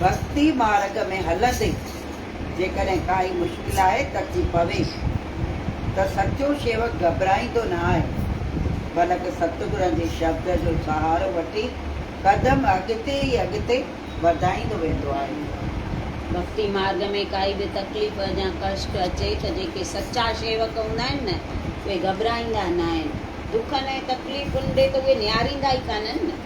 ڀڳتي مارڳ ۾ هلندي جيڪڏهن ڪائي مشڪل آهي ته ٿي پوي ته سچو شيوڪ گهٻرائيندو نه آهي، بلڪ ستگرن جي شبد جو سهارو وٺي قدم اڳتي ئي اڳتي وڌائيندو ويندو آهي. ڀڳتي مارڳ ۾ ڪائي به تڪليف يا ڪشٽ اچي ته جيڪي سچا شيوڪ هوندا آهن نه اهي گهٻرائيندا نه آهن، دکن ۽ تڪليفن ڏي ته اهي نهاريندا ئي ڪانهن نه.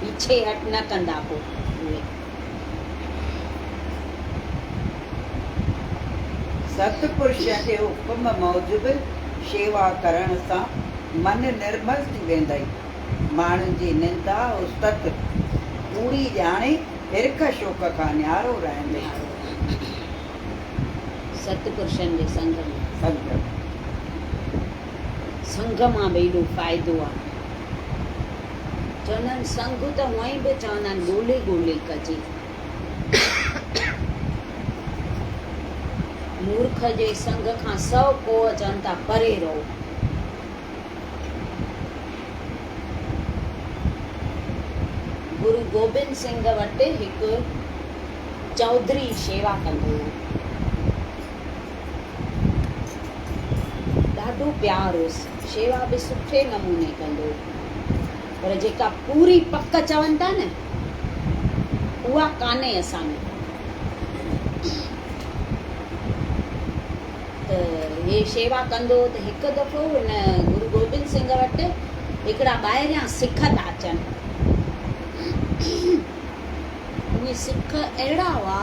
پيڇي هٽ نه ڪندا پوء اهي. ست پرش جي حڪم موجب شيوا ڪرڻ سان من نرمل ٿي ويندئي. ماڻهن جي نندا استت ڪوڙي ڄاڻي هرک شوق کان نيارو رهندئي. ست پرشن جي سنگ ۾. سنگهه مان به ايڏو فائدو آهي. چوندن سنگهه ته هونئن به چوندا آهن ڳولي ڳولي ڪجي. مورک جي سنگهه کان سؤ ڪوهه چون ٿا پري رهو. گرو گوبند سنگهه وٽ هڪ چوڌري شيوا ڪندو هو. ڏاڍو پيار هوس، شيوا به سٺي نموني ڪندو هو، پر جيڪا پوري پڪ چون ٿا نه، اها ڪانهي اسان ۾ ته هي شيوا ڪندو هو ته هڪ دفعو هن گرو گوبند سنگهه وٽ هڪڙا ٻاهريان سک ٿا اچن. اهي سک اهڙا هئا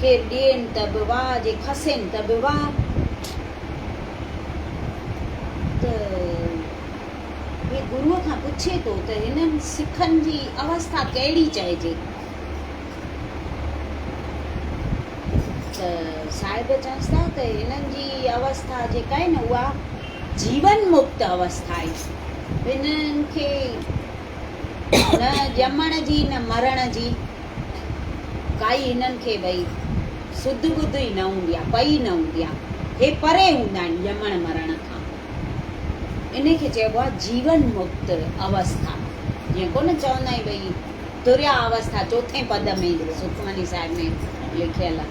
کير ڏين ته به واء، جي کسين ته به واء. ته هي گروء کان پڇي ٿو ته هنن سکن جي اوسٿا ڪهڙي چئجي؟ ته صاحب چئنس ٿا ته هنن جي اوسٿا جيڪا آهي نه اها جيون مڪت اوسٿائي، هن کي نه ڄمڻ جي نه مرڻ جي ڪائي هنن کي ڀئي سڌ ٻڌ ئي نه هوندي آهي، پئي نه هوندي آهي، هي پري هوندا آهن ڄمڻ مرڻ کان، ان کي چئبو آهي جيون مڪت اوسٿا، جيئن ڪونه چوندا آهيون ڀئي تريا اوسٿا چوٿين پد ۾ سکمني صاحب ۾ لکيل آهي.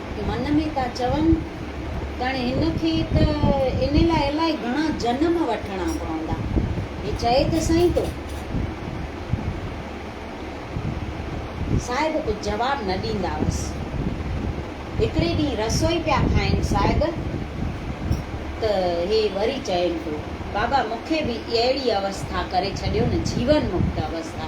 من ۾ ٿا چون ڄڻ هن کي ته ان لاء الائي گهڻا جنم وٺڻا پوندا. هي چئي ته سائين ٿو. صاحب ڪجهه جواب نه ڏيندا هئس. هڪڙي ڏينهن رسوئي پيا کائين صاحب ته هي وري چين ٿو بابا مون کي به اهڙي اوسٿا ڪري ڇڏيو نه جيون مڪت اوسٿا.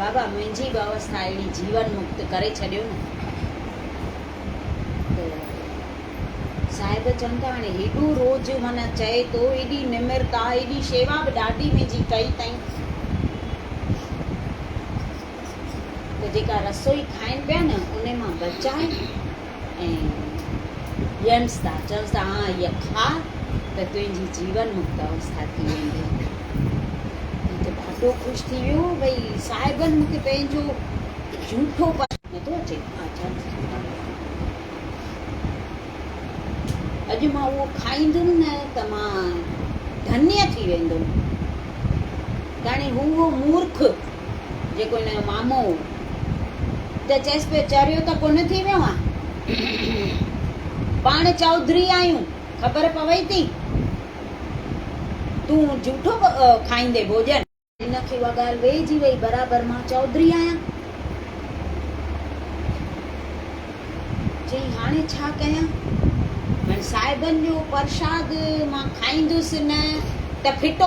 بابا منهنجي به اوستا اهڙي جيون مڪت ڪري ڇڏيو نه ته صاحب چون ٿا هاڻي هيڏو روز من چئي ٿو ايڏي نمرتا ايڏي شيوا به ڏاڍي منهنجي ڪئي تائين ته جيڪا رسوئي کائين پيا نه ان مان بچائي ۽ ڄڻ سدا چئو سدا آن اهي کاء ته تنهنجي جيون مڪت اوستا ٿي ويندي. هي ته ڏاڍو خوش ٿي ويو ڀئي صاحبن مون کي پنهنجو جهوٺو پاڻ. نٿو اچي آچار جي خطاب ۾ اڄ مان اهو کائيندم نه ته مان ڌنيه ٿي ويندم. تاڻي هو اهو مورک. جيڪو هن جو مامو هو، ته چيس پيو، چريو ته ڪونه ٿي ويو آن؟ پاڻ چوڌري آهيون، خبر پوي ٿي؟ تون جهوٺو کائيندين ڀوڄن. هن کي اها ڳالهه ويهجي ويئي، برابر مان چوڌري آهيان. چيائين، هاڻي ڇا ڪيان؟ هاڻي صاحبن جو پرشاد مان کائيندس نه ته ڦٽو.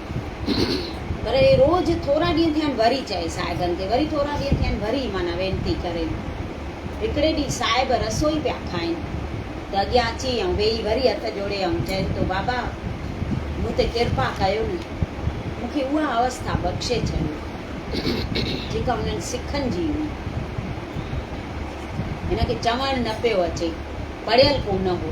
پر اهي روز ٿورا ڏينهن ٿيا آهن وري چئي صاحبن کي وري ٿورا ڏينهن ٿيا آهن وري معنيٰ وينتي ڪرين. هڪڙي ڏينهن صاحب رسوئي پيا کائين ته اڳيان اچي ۽ ويهي وري هٿ جوڙي ۽ چين تو بابا مون تي ڪرپا ڪيو نه مون کي اها اوسٿا بخشي ڇڏيو جيڪا انهن سکن جي هئي. هن کي چوڻ نه پيو اچي پڙهيل ڪونه هو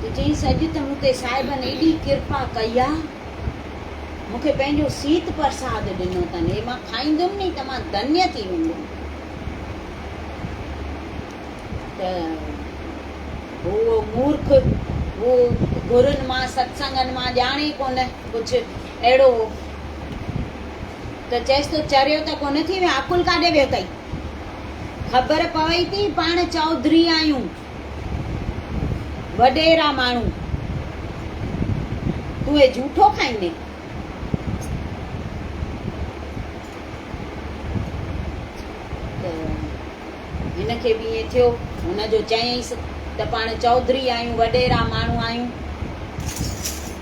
ته چيائينس اڄ ته مون تي صاحبن ايڏي ڪرپا ڪئي آ، مون کي پنهنجو سيت پرساد ڏنو اٿن، هي مان کائيندم ني ته مان ڌنيا ٿي ويندم. ته هو مورک، هو گرن مان ستسنگن مان ڄاڻي ڪونه ڪجهه اهڙو هو. ته چيس تو چريو ته ڪونه ٿي ويو، عقل ڪاڏي ويو تئي؟ خبر پوي ٿي پاڻ چوڌري آهيون وڏيرا ماڻهو تون اي جھوٽو کائيندين هن کي به ائين ٿيو هن جو چيائينس ته پاڻ چوڌري آهيون وڏيرا ماڻهو آهيون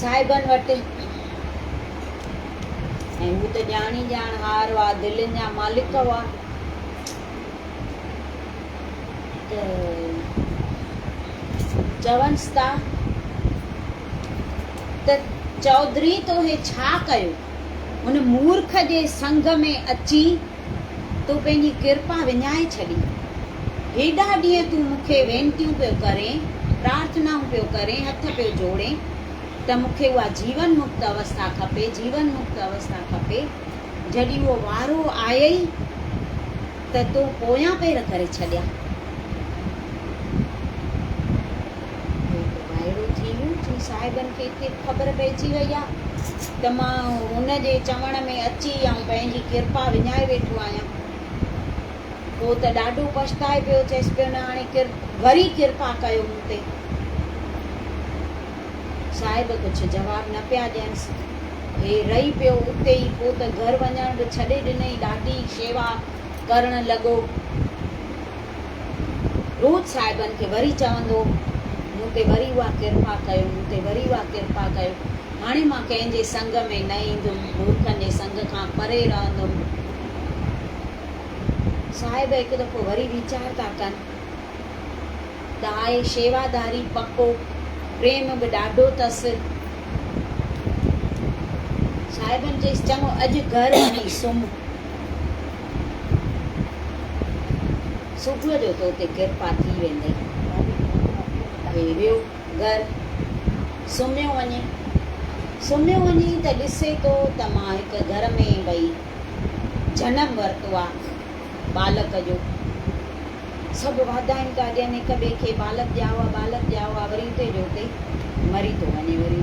صاحبن وٽ ۽ هو ته ڄاڻ ئي ڄاڻ هار هئا، دلين جا مالڪ هئا ته چونس ٿا ته چوڌري توهي ڇا ڪيو؟ هن مورک جي سنگ ۾ اچي تو پنهنجي ڪرپا وڃائي ڇڏي. هيڏا ڏينهن تون مون کي وينتيون پيو ڪرين، پرارٿنائون پيو ڪرين، هٿ پيو جوڙين ته مون کي اها جيون مڪت اوسٿا کپي، جيون مڪت اوسٿا کپي، جڏهن اهو وارو آيئي ته تو پويان پير ڪري ڇڏيا. هو ته وائڙو ٿي ويو جو صاحبن کي ڪي خبر پئجي وئي آ ته مان هن جي چوڻ ۾ اچي آئون پنهنجي ڪرپا وڃائي ويٺو آهيان. هو ته ڏاڍو پڇتائي پيو چيس پيو نه هاڻي وري ڪرپا ڪيو مون تي. صاحب ڪجهه جواب نه پيا ڏينس. هي رهي پيو اتي ئي پوء ته گهر وڃڻ به ڇڏي ڏنئي ڏاڍي شيوا ڪرڻ لڳو. روت صاحبن کي وري چوندو، مون تي وري اها ڪرپا ڪيو، مون تي وري اها ڪرپا ڪيو، هاڻي مان ڪنهن جي سنگ ۾ نه ايندم، مورکن جي سنگ کان پري رهندم. صاحب هڪ دفعو وري ويچار ٿا ڪن، دائي شيواداري پڪو، پريم به ڏاڍو اٿس. صاحبن چيس، چڱو اڄ گهر وڃي سمهه. صبح جو تو تي ڪرپا ٿي ويندئي. اهي ويو گهر سمهيو وڃي. سمهيو وڃي ته ڏسي ٿو ته مان هڪ گهر ۾ وئي جنم ورتو آ ٻالڪ جو. سڀ واڌايون ٿا ڏين هڪ ٻئي کي ٻالڪ ڄائو آ ٻالڪ ڄائو آ وري اتي جو اتي مري ٿو وڃي وري.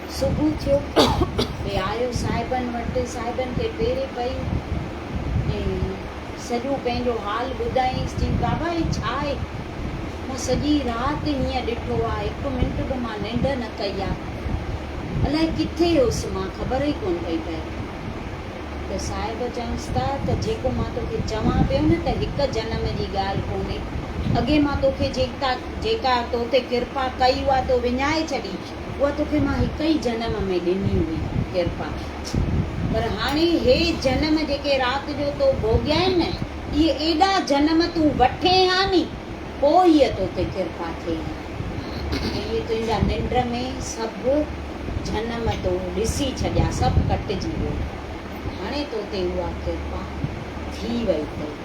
صبح ٿيو ته آيو صاحبن وٽ، صاحبن کي پيري پئي ۽ سڄو پنهنجو حال ٻڌايائينس، چيائين بابا هي ڇا آهي؟ مون سڄي رات هينئن ڏٺو آ، هڪ منٽ به مان ننڊ نه ڪئي آ، الاء ڪٿي هيس مان خبر ئي ڪونه پئي پئي. ته صاحب چيائونس ته ته جيڪو مان توکي چوان پيو نه ته هڪ جنم جي ڳالهه ڪونهي، اڳي مان توکي جيڪا توتي ڪرپا ڪئي اها تو وڃائي ڇڏي، اها توکي مان هڪ ئي جنم ۾ ڏني هئي ڪرپا، پر هاڻي هي جنم جيڪي رات جو تو ڀوڳيائين نه، اهي ايڏا جنم تون وٺين ها ني، پوء ئي تو تي ڪرپا ٿئي ها. ۽ اهي تنهنجا ننڊ ۾ سڀ جنم تو ڏسي ڇڏيا، سڀ ڪٽجي ويو. هاڻي تو تي اها ڪرپا ٿي وئي اٿئي.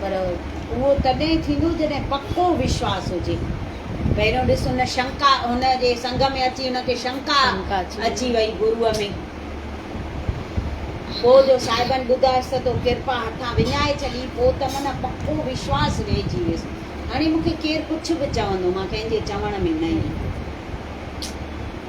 پر اهو تڏهن ٿيندو جڏهن پڪو وشواس هجي. پهريون ڏس هن شنڪا هن جي سنگ ۾ اچي هن کي شنڪا اچي وئي گروء ۾. پوء جو صاحبن ٻڌايس ته تو ڪرپا هٿان وڃائي ڇڏي پوء ته من پڪو وشواس ويهجي ويس. هاڻي مون کي ڪير ڪجهه به چوندو مان ڪنهن جي چوڻ ۾ نه ايندم.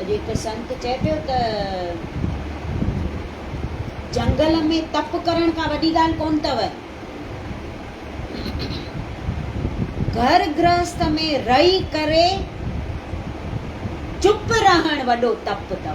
اڄ هڪ سنت چئي پيو ته جهنگل ۾ تپ ڪرڻ ڪا وڏي ڳالهه ڪونه اٿو. گهر گرهست ۾ رهي ڪري چپ رهڻ وڏو تپ اٿو.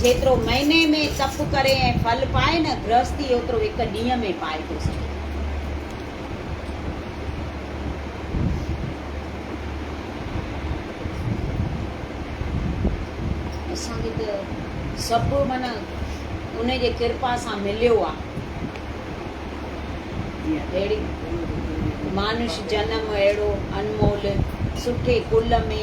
جيترو مهيني ۾ تپ ڪري ۽ ڦل پائي نه گرهستي اوترو هڪ ڏينهن ۾ پائي ٿو سگهي. اسان کي ته سڀ معنيٰ ان جي ڪرپا سان مليو آ. اهڙي مانوش جنم اهڙو انمول سٺي ڪل ۾.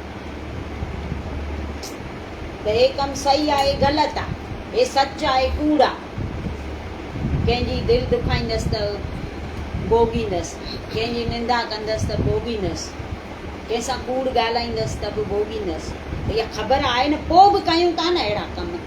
ته هي ڪم صحيح آهي غلط آ، هي سچ آهي ڪوڙ آ، ڪنهن جي دل دکائيندس ته ڀوڳيندس، ڪنهن جي نندا ڪندس ته ڀوڳيندس، ڪنهن سان ڪوڙ ڳالهائيندس ته به ڀوڳيندس، اها خبر آهي نه پوء به ڪيون ٿا نه اهڙا ڪم.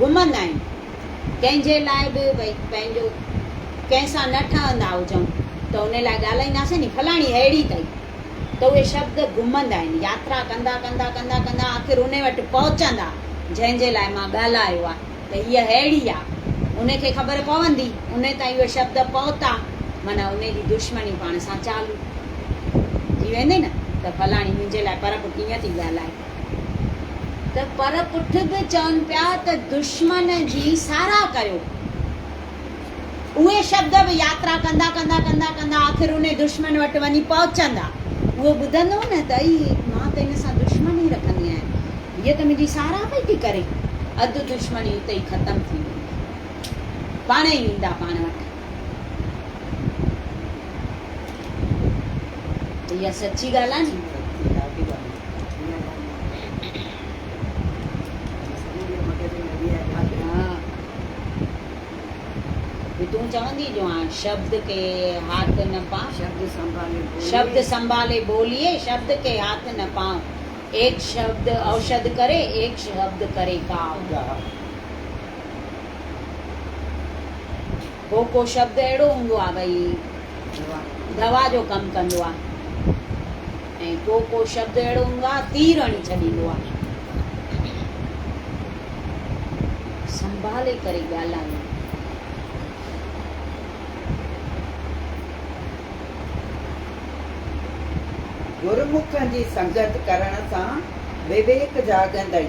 گهمندا آهن، ڪنهن جي لاء به ڀئي پنهنجو ڪنهن سان نه ٺهندا هجون ته ان لاء ڳالهائينداسين ني فلاڻي اهڙي اٿئي ته اهي شبد گهمندا آهن، ياترا ڪندا ڪندا ڪندا ڪندا آخر ان وٽ پهچندا جنهن جي لاء مان ڳالهايو آ ته هيء اهڙي آ ان کي خبر پوندي ان تائين اهي شبد پهتا معنيٰ ان جي دشمني پاڻ سان چالو ٿي ويندي نه ته فلاڻي منهنجي لاء پرب ڪيئن ٿي ڳالهائي. ته پر پٺ به چون پيا ته دشمن جي ساراهه ڪيو. اهي شبد به ياترا ڪندا ڪندا ڪندا ڪندا آخر انهي دشمن وٽ وڃي پهچندا. اهو ٻڌندو نه ته اي مان ته ان سان دشمني رکندي آهيان. هيء ته منهنجي ساراهه پئي ٿي ڪري. اڌ دشمني اتي ئي ختم ٿيندي. پاڻهي ئي ايندا پاڻ وٽ. اها سچي ڳالهه آهي ني ڏاڍي ڳالهه تون چوندي جو هاڻ شبد کي هاٿ نه پا شبد سنڀالي شبد سنڀالي بوليي شبد کي هاٿ نه پا ايڪ شبد اوشد ڪري ايڪ شبد ڪري ڪاو هو ڪو شبد اهڙو هوندو آهي ڀئي دوا جو ڪم ڪندو آهي ۽ ڪو ڪو شبد اهڙو هوندو آهي تير هڻي ڇڏيندو آهي سنڀالي ڪري ڳالهايو گرمکن جي سنگت ڪرڻ سان وويڪ جاڳندئي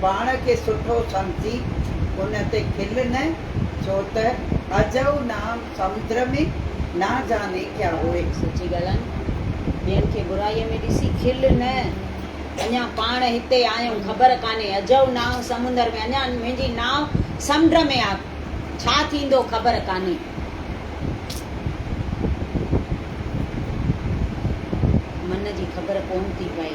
پاڻ کي سٺو سمجهي ان تي کل نه، ڇو ته اجهو نام سمدر ۾ نه جاني ڪيا هوئي. سچي ڳالهائين، ٻين کي برائيء ۾ ڏسي کل نه، اڃا پاڻ هتي آيم خبر ڪانهي، اجهو نانء سمندر ۾، اڃا منهنجي نانء سمنڊ ۾ آ، ڇا ٿيندو خبر ڪانهي. من جي خبر ڪونه ٿي پئي.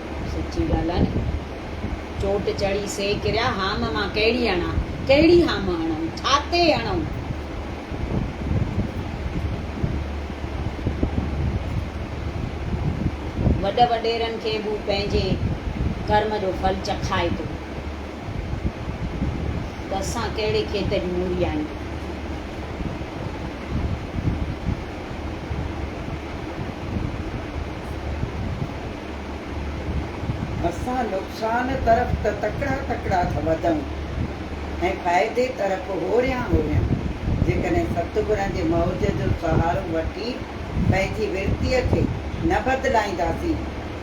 سچي ڳالهه آهي. چوٽ چڙهي سي ڪريا، هام مان ڪهڙي هڻان؟ ڪهڙي هام هڻون؟ ڇا تي هڻون؟ وڏ وڏيرن کي به هو پنهنجي ڪرم جو ڦل چکائي ٿو ته اسان ڪهڙي کيت جون موري آهيون. اسان نقصان طرف ته تڪڙا تڪڙا ٿا وڌون ۽ فائدي طرف هوريان هوريان. جيڪڏهن ستگرن جي موج جو سهارو وٺي پنهنجي ورتيء کي نه بدلائينداسين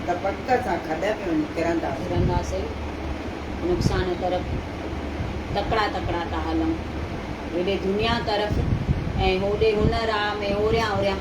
ته پڪ سان کڏ ۾ وڃي ڪرنداسين. ڪرنداسين. نقصان طرف تڪڙا تڪڙا ٿا هلون. هيڏي دنيا طرف ۽ هوڏي هن راهه ۾ هوريان هوريان.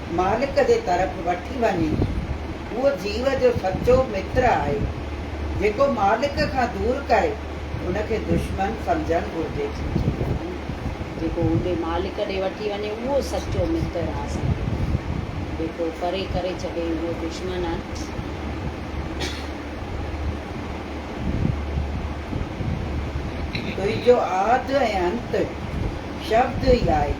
مالڪ جي طرف وٺي وڃي. هو جيو جو سچو متر آهي. جيڪو مالڪ کان دور ڪري، ان کي دشمن سمجهڻ گهرجي. سچو متر آهي جيڪو هوندي مالڪ ڏي وٺي وڃي، اهو سچو متر آهي اسان جو. جيڪو پري ڪري ڇڏي، اهو دشمن آهي. تنهنجو آد ۽ انت شبد ئي آهي.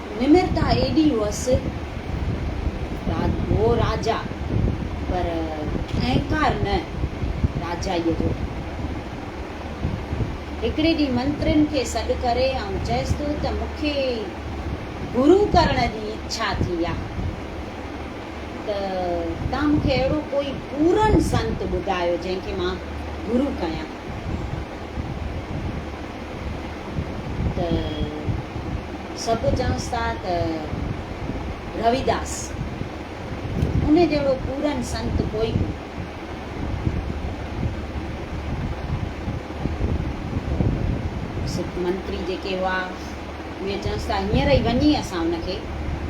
نمرتا ايڏي هئس هو راجا پر اهنڪار نه راجائيء جو. هڪڙي ڏينهن منترين کي سڏ ڪري آئون چيس ٿو ته مون کي گرو ڪرڻ جي اڇا ٿي آهي ته توهان مون کي اهڙو ڪوئي پورن سنت ٻڌايو جنهن کي مان گرو ڪيان. ته سڀ چونس ٿا ته رويداس ان جهڙو پورن سنت ڪوئي ڪونه. سک منتري جيڪي هئا اهي چونس ٿا هينئر ئي وڃي اسان ان کي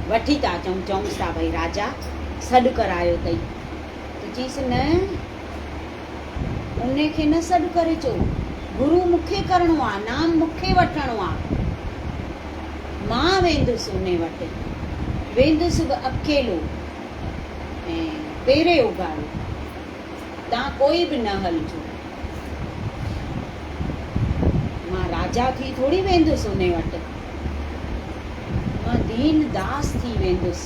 وٺي ٿا اچون. چونس ٿا ڀئي راجا سڏ ڪرايو اٿئي ته چيس نه انهي کي نه سڏ ڪري چئو، گرو مون کي ڪرڻو آ، نام مون کي وٺڻو آ، مان ويندس انهي وٽ، ويندس به اڪيلو ۽ پيري اگهاڙو، تان ڪوئي به نه هلجو، مان راجا ٿي ٿوري ويندس انهي وٽ، مان دين داس ٿي ويندس.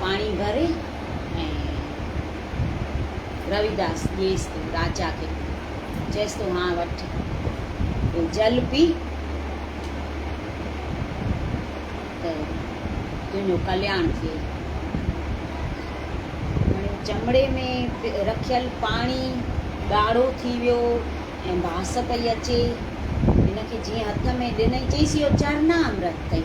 پاڻي ڀر ۽ رويداس ڏيس تون راجا کي پي چيس تون هاڻ وٺ اهو جل پي ته تنهنجو ڪلياڻ ٿئي هاڻي چمڙي ۾ رکيل پاڻي ڳاڙهو ٿي ويو ۽ باس پئي اچي هن کي جيئن هٿ ۾ ڏنئي چيس اهو چرنا امرت اٿئي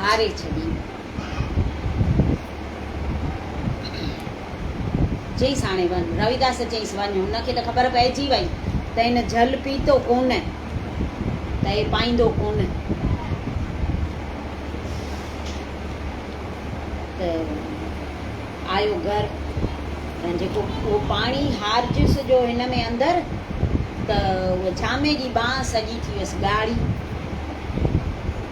هاري ڇڏين. چيس هاڻي وڃ. رويداس چيس وڃ. هن کي ته خبر پئجي وئي ته هن جهل پيتو ڪونه ته هي پائيندو ڪونه ته آيو گهر ۽ جيڪو اهو پاڻي هارجيس جو هن ۾ اندر ته اهو جامي جي ٻانهن سڄي ٿي ويس ڳاڙهي.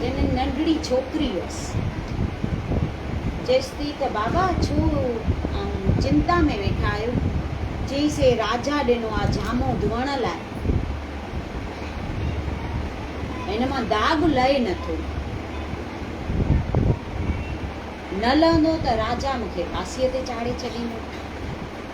جنھن ننڍڙي ڇوڪري ھئس، چيس ٿي ته بابا ڇو اوھين چنتا ۾ ويٺا آھيو؟ چيس اي راجا ڏنو آ جامو ڌوئڻ لاء، ھن مان داغ لھي نه ٿو، نه لھندو ته راجا مون کي ڦاسيء تي چاڙھي ڇڏيندو.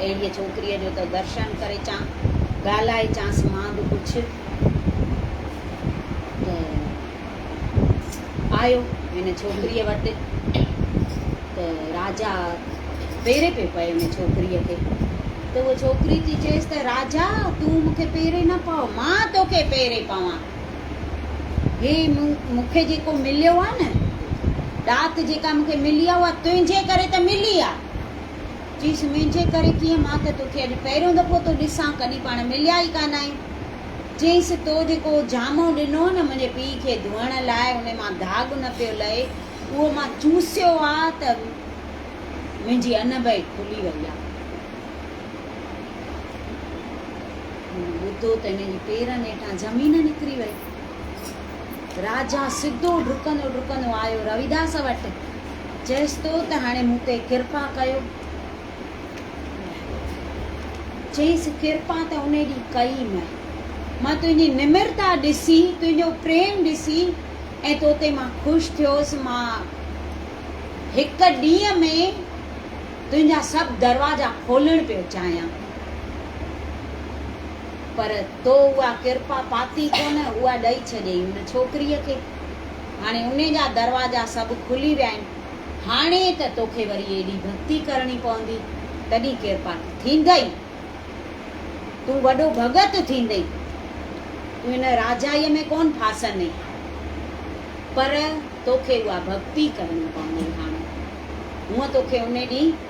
اهڙيء ڇوڪريء جو ته درشن ڪريچان، ڳالهائيچانس مان به ڪجهه ته آيو هن ڇوڪريء وٽ ته راجا پيري پيو پئي ان ڇوڪريء کي ته اهو ڇوڪري ٿي چيس ته راجا تون مون کي پيري نه پاء مان توکي پيري پوان هي مون کي جيڪو مليو آهي نه ڏات جيڪا مون کي ملي آهي اها تنهنجي ڪري ته ملي آهي چيس، منهنجي ڪري ڪيئن؟ مان ته توکي اڄ پهريون دفعو ٿو ڏسان، ڪڏهن پاڻ مليا ئي ڪانه آهيون. چيس، تو جيڪو جامو ڏنو نه منهنجي پيء کي ڌوئڻ لاء، ان مان داغ نه پيو لهي، اهو مان چوسيو آ ته منهنجي انب ئي کلي وئي آ. هن ٻڌو ته هن جي پيرن هيٺان زمين نڪري وئي. راجا سڌو ڊڪندو ڊڪندو آيو رويداس وٽ، چيس تو ته هاڻي مون تي ڪرپا ڪيو. چيس ڪرپا ته ان ڏينهن ڪئي مئن. مان تنهنجي نمرتا ڏسي، تنهنجو پريم ڏسي ۽ تو تي مان خوش ٿيوس. مان هڪ ڏينهن ۾ تنهنجا سڀ دروازا کولڻ پيو چاهيان. پر تو اها ڪرپا پاتي ڪونه، اها ڏئي ڇڏيئي ان ڇوڪريء کي. هاڻي انهي جا دروازا سڀ کلي ويا آهن. هاڻي ته توکي وري ايڏي ڀڳتي ڪرڻي پوندي، تڏهين ڪرپا ٿيندئي. تون وڏو ڀڳت ٿيندئي. تون ان راجائيء ۾ ڪونه ڦاسندئي. پر توکي اها ڀڳتي ڪرڻي پوندئي هاڻي. هونء توکي انهي ڏينهن.